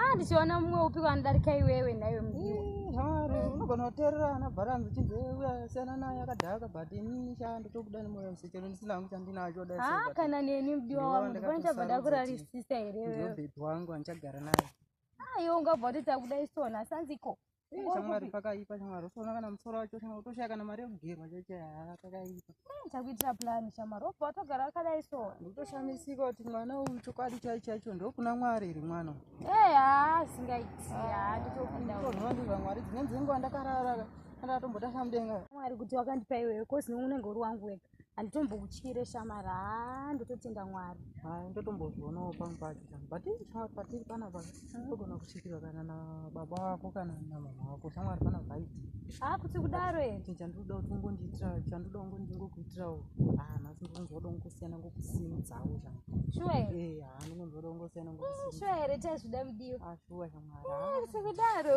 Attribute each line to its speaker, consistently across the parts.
Speaker 1: Ah, ndichiona mumwe upi
Speaker 2: wanodarika iwewe nhaiwe mudiwa hari unogona
Speaker 1: kuteerera ana bharanzi uchinzi uya siyana naye akadhaka but inini sha ndotobuda nemoyo wese chero ndisina hangu chandinacho dai Ah, sekuti kana neni mudiwa Ndiwe wangu
Speaker 2: ndipone ndakatosarudza chabva ndakurarisisa here wewe ndobhedhi wangu andichagara
Speaker 1: naye Ah, iwe ungabva
Speaker 2: kuti takuda isona sanziko shamwari pakaipa
Speaker 1: shamwari usaona kana musoro wacho shamwari utoshaya kana mari yekugerwa chachaya pakaipa takuitira plan
Speaker 2: shamwari obva watogara wakadai so ndikutoshamisika kuti
Speaker 1: mwana uyu chokwadi chai chacho ndokuna mwari iri mwana ee haa
Speaker 2: singaiti haa nditopindaonoandira mwari
Speaker 1: dzine dzenguva ndakarara ndakatombotasa mudenga mwari kuti wakandipa
Speaker 2: iwewe kozi unenge uri wangu wega handitombokutyire shamari haa ndototenda mwari haa ndotombozvionawo
Speaker 1: pamwe pacho pano but patiri panapa hmm. togona kutyikirwa kana nababa wako kana namama wako shamwari pana vaiti haa kuti kudaro
Speaker 2: ete chandinoda kuti ungondiitira
Speaker 1: chandinoda kungo ndingokuitirawo haa nhasi ndonzwada kungosiyana ngokusimudzawo shamwari shuwa here eh, haa
Speaker 2: ndingonzwada kungosiyana
Speaker 1: ngokusimudzawo shuwa here tazvida
Speaker 2: mudiwa haa shuwa shamwari
Speaker 1: kuti kudaro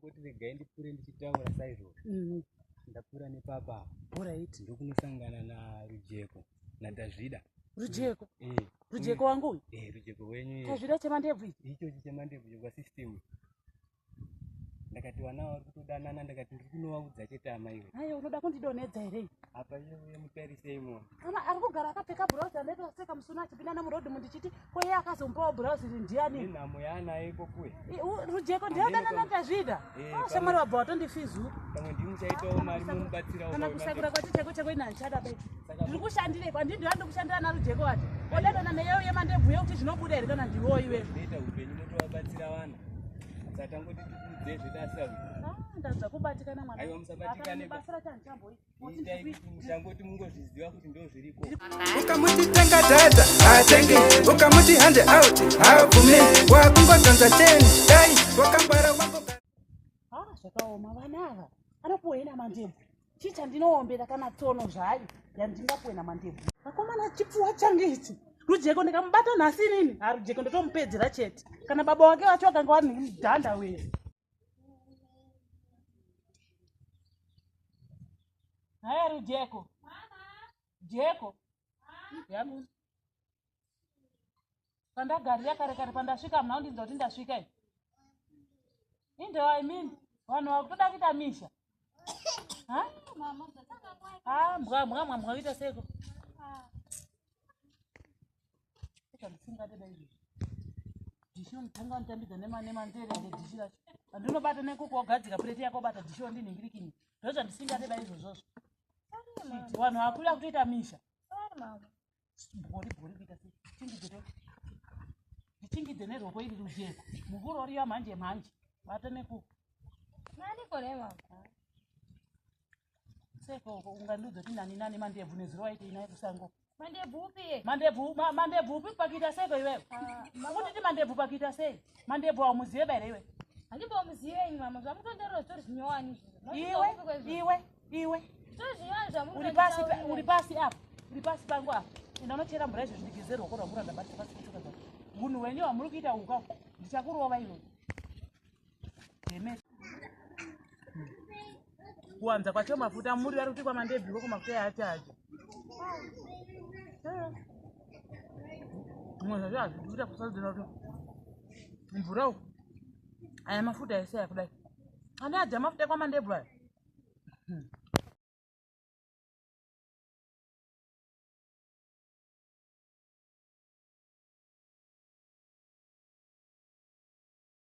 Speaker 3: kuti regai ndipfuure
Speaker 4: ndichitaura saizvozvo mm. ndapfuura nepapa orit
Speaker 1: ndokunosangana
Speaker 4: narujeko nadazvida rujeko mm.
Speaker 1: eh. rujeko mm. wangu uyu eh, rujeko wenyu tazvida
Speaker 4: chemandebvu ichi
Speaker 1: ichochi chemandebvu
Speaker 4: chekwasystem ndakati vana vari kutodanana ndakati ndiri kunovaudza chete amaiwe ayo unoda kundidonhedza
Speaker 1: here apa iye
Speaker 4: mutarisei mona kana ari kugara akapfeka
Speaker 1: bhurauzi anoita kuseka musuna achipinda nemurodhi mundichiti ko iye akazomupawo bhurauzi iri ndiyani inhamo yaanayo
Speaker 4: ikokuwe rujeko
Speaker 1: ndiyodananatazvida eh, ah, shamwari wabva watondifizu pamwe ndimuchaitawo
Speaker 4: mari momubatsirawo kana kusakura kwati cheko
Speaker 1: cheko ina handichada be ndiri kushandire kwa ndindiwa ndikushandira narujeko wati odanana neyeyo yemandebhuye kuti zvinobuda here kana ndiwo iwe ita upenyu
Speaker 4: motovabatsira vana satangoti tikuudzezvedasau ah, ndadza
Speaker 1: kubatikana mwana aiwa musabatikane basira
Speaker 4: chanditamboita ukamuti tenga
Speaker 5: data haatenge ukamuti hande out haabvume wakungotonza ten dai wakangwara wako ha ah, zvakaoma
Speaker 1: vana ava anopuwa ina mandebvu chii chandinoombera kana tsono zvayo yandingapuwe namandebvu akomana chipfuwa change ichi rujeko ndikamubata nhasi inini harujeko ndotomupedzera chete kana baba wake vacho vakanga vari nemudhanda wee Haya Rujeko. Jeko. Yamu. Panda gari ya kare kare panda shika mna undi ndoti ndashika hii. Inde wa I mean wanu wa kutoda kita misha. Ha? Mama, ah, mbwa mbwa mbwa mbwa kita seko. ndichinotanga nditambidza nemandeere ende dhishi racho andinobata nekuko wagadzika pureti yako bata dhishi wandinhingirikini ndo zvandisingade da izvozvozvo vanhu vakuda kutoita misha bori bori kuita se chingidze ndichingidze neroko iri rujeko muvuro uriya manje manje bata nekuko sekoko ungandiudza kuti nani nani mandebvu nezuro waitei naye kusango mandebvu upi mandebvu mandebvu upi pakuita seko iwewe ah, kutiti mandebvu pakuita sei mandebvu aumuzive baira iwe handimbomuzive
Speaker 2: ini mama zvamutonderero zvitori zvinyowani iwe iwe
Speaker 1: iwe zvitori zvinyowani
Speaker 2: zvamuuri pasi uri pasi apo
Speaker 1: uri pasi pangu apo enda unochera mvura izvo zvindigezero wako rwamura ndabatisa pasi kutuka zva munhu wenyu wamuri kuita uka ndichakurova iwe kuwanza kwacho mafuta muri vari kuti kwamandebviko kumafuta yaachaji zvimwe zvacho hazvidi kuita kusarudzira kuti mvura uku aya mafuta ese aya kudai ane adya mafuta kwamandebvu aya hmm.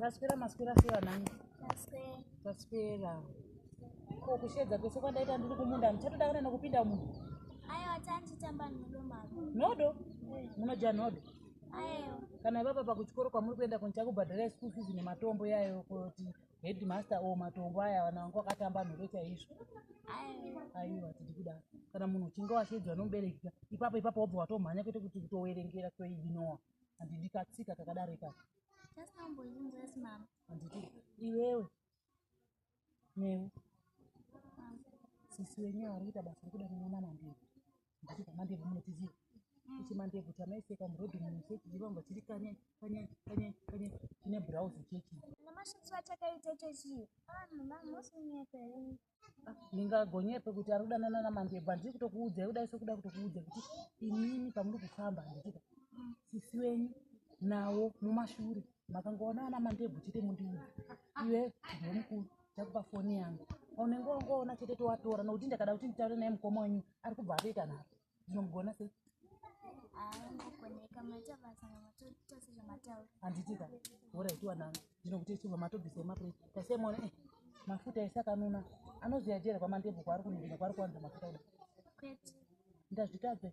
Speaker 1: taswera maswera sei vanangu taswera ko kushedza kwese kwandaita ndiri kumunda ndichatoda kana nokupinda munhu
Speaker 6: nhodo
Speaker 1: munodya nhodo
Speaker 6: kana ivapa pakuchikoro
Speaker 1: kwamuri kuenda kunichakubhadhara school fees nematombo yayo kuti Headmaster o oh, matombo aya vana vangu vakatamba nhoro chaizvo aiwa tiri kuda kana munhu uchinge washeedzwa nomubereki ipapo ipapo wobva watomhanya kwete kuti kutoverengera toidinoa handidi katsika kakadaro ikaka
Speaker 6: handiti
Speaker 1: iwewe newe sisi wenyu ari kuita basa rekuda kuona mandiri ndati pamande munotizi kuti mande kuti amaiseka murodhi muchechi chivamba chiri kanye kanye kanye kanye chine browse chechi namashitswa chakaita
Speaker 6: chechi vanhu vamosinyepe
Speaker 1: ndingagonyepe kuti ari kudanana namande but ndiri kutokuudzai kudai sekuda kutokuudza kuti imimi pamuri kufamba ndichita sisi wenyu nawo mumashure makangoona ana mandebvu chete mundiudza iwe ndiwe mukuru chakupa foni yangu unenge wangoona chete towatora nokuti ndakada kuti nditaure naye mukoma wenyu ari kubva atoita nharo zvinomugona sei
Speaker 6: handitika
Speaker 1: horaitiwa nani ndinokuti chibva matobvisa emapre tasemona eh, mafuta ese akanuna anozoyajera kwamandebvu kwaari kunungira kwaari kuwanza mafuta kuda
Speaker 6: ndazvitadze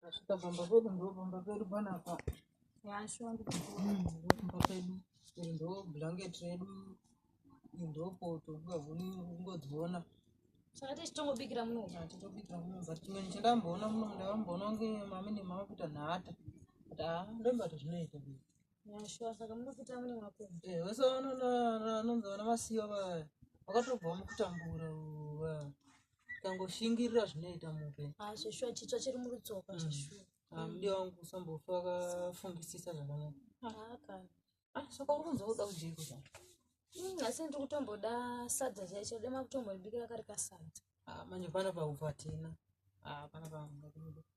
Speaker 1: Tasvika pamba pedu ndopamba pedu panapa. Yasho
Speaker 2: ndopamba
Speaker 1: pedu. Ndo
Speaker 7: blanket redu. Ndopo tokugavuni ungodziona. Saka
Speaker 2: tichitongobikira muno. Tichitobikira muno. But
Speaker 7: chimweni chandamboona muno ndavamboona kunge mami nemama kuita nhata. But ah ndombati zvinoita kuita.
Speaker 2: Yasho saka munopita mune
Speaker 7: mako. Eh wese vanonzi vana masiya vaya. Vakatobva mukutambura. ukangoshingirira zvinoita muupenyu Ah, zveshuwa chitsva chiri
Speaker 2: murutsoka zveshuwa Ah, mudiwa wangu
Speaker 7: usambofa wakafungisisa zvakanaka Ah, kana Ah,
Speaker 2: saka uri kunzwa kuda
Speaker 7: kujeiko zvako Mm, asi
Speaker 2: ndiri kutomboda sadza chaicho dema kutombondibikira kari kasadza Ah, manje pana
Speaker 7: pakuvatina Ah, pana pangakuda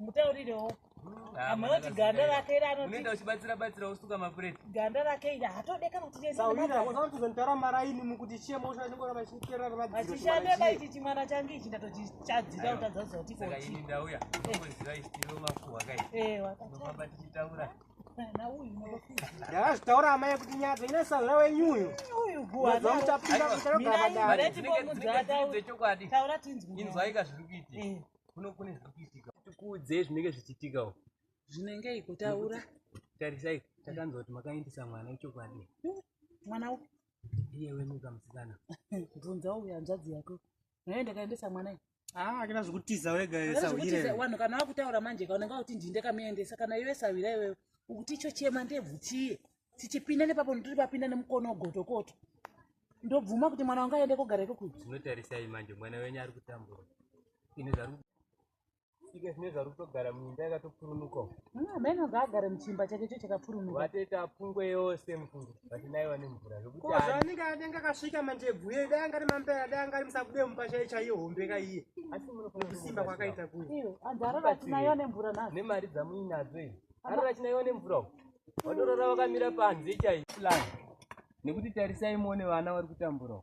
Speaker 1: mutaurirewo
Speaker 4: amoti
Speaker 1: ganda rake iri anoenda uchibatsira batsira usuka
Speaker 4: mapureti ganda rake iri
Speaker 1: hatodeka kutiaamaraini
Speaker 7: mukuti chiemoshaachishande baiti
Speaker 1: chimwana change ichi ndatochii chadzira utadza kuziva kuti saka
Speaker 4: ini ndauya unoziva istiro makuhwa kai eh wakafamba tichitaura
Speaker 1: ndakazvitaura
Speaker 7: amai kuti nyadza ine sazva wenyu uyu uyoza
Speaker 1: muchapinda kuchakagavadaaechokwadi
Speaker 4: inzwaika
Speaker 1: zviri
Speaker 4: kuitika eh. kuno kune zviri kuitika tikuudze zvinenge zvichiitikawo zvinenge
Speaker 1: ikutaura tarisai
Speaker 4: takanzwa kuti makaindisa mwana ichokwadi mwana upi
Speaker 1: iye wemuka
Speaker 4: musikana bvunza uyo
Speaker 1: hanzvadzi yako Naye ndakaendesa mwana iyi. Ah, akina zvekutiza
Speaker 7: wega Kana esa zvekuti uyire. Wanhu kana wakutaura
Speaker 1: manje ka unenge wakuti ndini ndakamuendesa kana iwe sawira iwewe ukuti icho chema ndebvu chiye tichipinda nepapo ndiri papinda nemukono gotokoto ndobvuma kuti mwana wanga aende kogara iko kuti Zvinotarisai manje
Speaker 4: mwana wenyu ari kutambura. Ine zvaru ike zvine zvari kutogara muimba yakatopurunuka amene mm, ngaagare
Speaker 1: muchimba chake cho chakapurunuka vatoita pfungwe
Speaker 4: yose mufungo vati naiwa nemvura zvekutianenge anenge
Speaker 7: akasvika mandebvu ye dai angari mampera dai angari musakude mumba chai chaiye hombe kaiye asi munokusimba
Speaker 4: kwakaita kuyo
Speaker 7: anzi arara achinaiwa
Speaker 1: nemvura na nemari dzamuinadzo
Speaker 4: i arara achinaiwa nemvura u vatorora vakamira panze chai plan nekuti tarisai muone vana vari kutambura u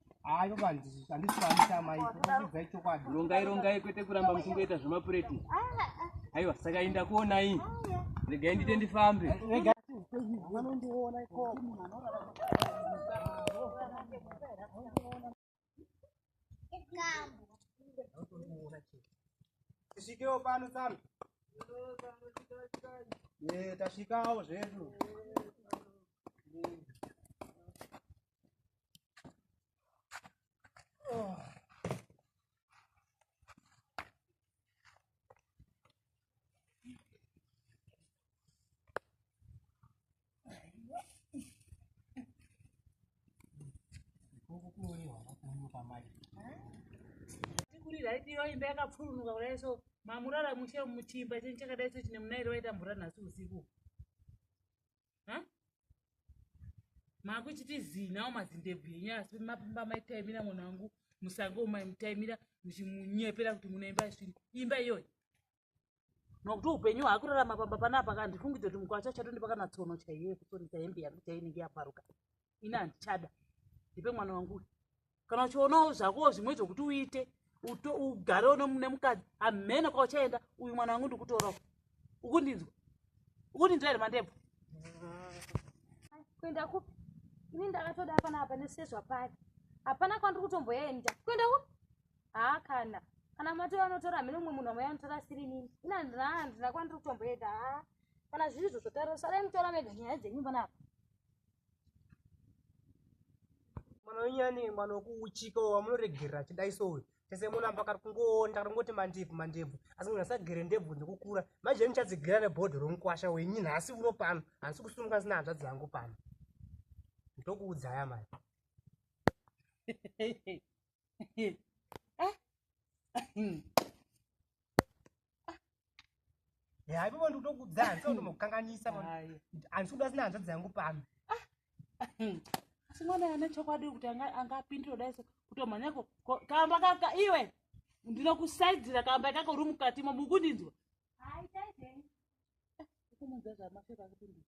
Speaker 7: hayo vanhu handisivaita amai kudzai chokwadi rongai rongai kwete
Speaker 4: kuramba muchingoita zvemapureti aiwa saka inda kuonai regai ndite ndifambe vanondiona
Speaker 7: iko tisvikewo pano tsano eh, tasvikawo zvedu
Speaker 1: kuriraidiro imba yakapfurunuka kudai so mamurara mushe muchimba chenyu chakadai so chine munairi waita mvura nhasi usiku makuchiti zinawo mazindebvu enyu asi mapimba maitaimira mwana wangu musango umai mutaimira muchimunyepera kuti munoimba isviri imba iyoyi nokuti upenyu hwakurarama pamba panapa kandifungidze kuti mukwacha chato ndipakanatsono chaiye kusonisa hembe yangu chainenge yabvaruka ini handichada ndipe mwana wangu uyu kana uchionawo zvakowo zvimwe zvokuti uite ugarewo nemukadzi hamhene kwauchaenda uyu mwana wangu ndikutorawo ukundinzwa ukundinzwa here mandebvu
Speaker 2: kuenda kupi ini ndakatoda apana apa nesezva pari hapana kwandiri kutomboenda kuenda kupi haa kana kana matora anotora hamene umwe munhu amai anotora asiri nini ina handina kwandiri kutomboenda haa kana zviri izvo zvotaura sarai mutora mega nyaya dzenyu panapa
Speaker 7: mwana wenyani mwana wekuuchika wamunoregerera achidai so uyu tese munamba kari kungoonda kari kungoti mandebvu mandebvu asi munhu asagere ndebvu nekukura manje ndichadzigera nebhodho romukwasha wenyi nhasi uno pano handisi kusumuka sina hanzvadzi yangu pano ndokuudzaya mani ah. Hayi baba ndikutokuudza hanzi undomukanganisa hanzi kuda sina hanzvadzi yangu pano.
Speaker 1: Asi mwana ane chokwadi kuti anga anga apindira dai so kutomhanya ko kamba kaka iwe ndinokusaidzira kamba kako uri mukati mo mukundinzwa. Hayi taidei. Kumunzwa
Speaker 7: zvamasheka kupindira.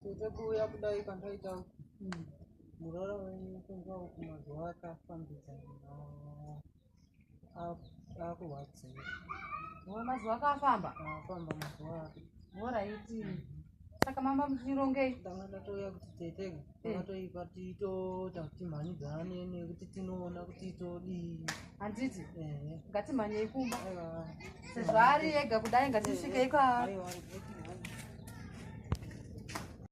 Speaker 8: kuda kuuya kudai kwandaita muroora wenyu kunzwa uku mazuva akafambidzana akurwadziwa oh,
Speaker 2: mazuva akafamba afamba mazuva
Speaker 8: ake oraiti
Speaker 2: saka mamba muchirongei ndanga ndatouya kuti
Speaker 8: tete akatoipa eh. tiitoita kuti mhanyi dzane nekuti tinoona kuti todii handiti eh.
Speaker 2: ngatimhanyei
Speaker 8: kumba sezvaari
Speaker 2: ega kudai ngatisvikei kwaari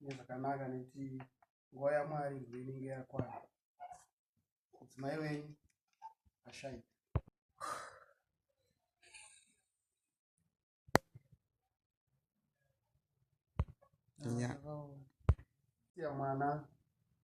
Speaker 9: nezvakanaka nekuti nguva yamwari ndo inenge yakwana mudzimai wenyu ashaika Yeah. Yeah,